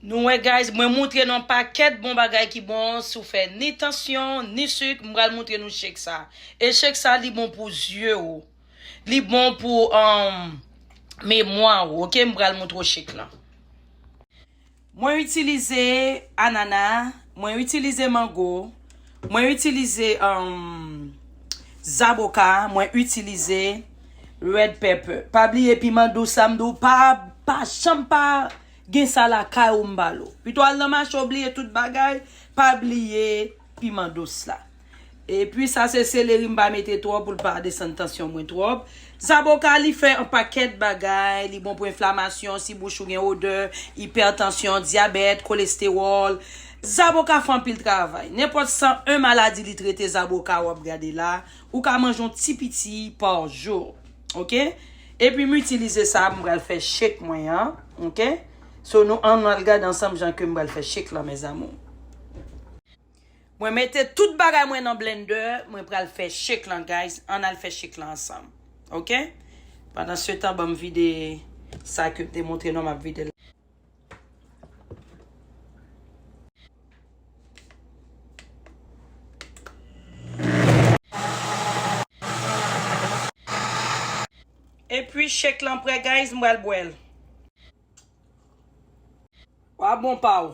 Nou wè guys mwen moutre nou pakèt bon bagay ki bon sou fè ni tansyon ni suk mpral moutre nou shake sa e shake sa li bon pou zye ou li bon pou um memwa ou ok mpral moutre ou shake lan. Mwen itilize anana, mwen itilize mango. Mwen itilize zaboka, mwen itilize red pepper. Pa bliye piman dous sa m di w pa pa janm pa gen sa lakay ou m ba l ou. Pito al nan mache ou bliye tout bagay, pa bliye piman dous la. E pi sa se seleri m pa mete twòp pou l pa desann tansyon mwen twòp. Zaboka li fè yon pakèt bagay, li bon pou enflamasyon, si bouch ou gen odè, ipètansyon, dyabèt, kolestewòl. Zaboka fè anpil travay. Nenpòt 101 maladi li trete zaboka wap gade la, ou ka manje yon ti piti par jou. Ok epi m itilize sa m pral fè shake mwen an ok so nou annou al gade ansanm jan kem pral fè shake lan mes amours. Mwen mete tout bagay mwen nan blender mwen pral fè shake lan guys ann al fè shake lan ansanm ok pandan se tan banm vide sa kem te montre nou an map videl la. Epi shake lan prè guys m pral bwèl. Wa bon pa ou.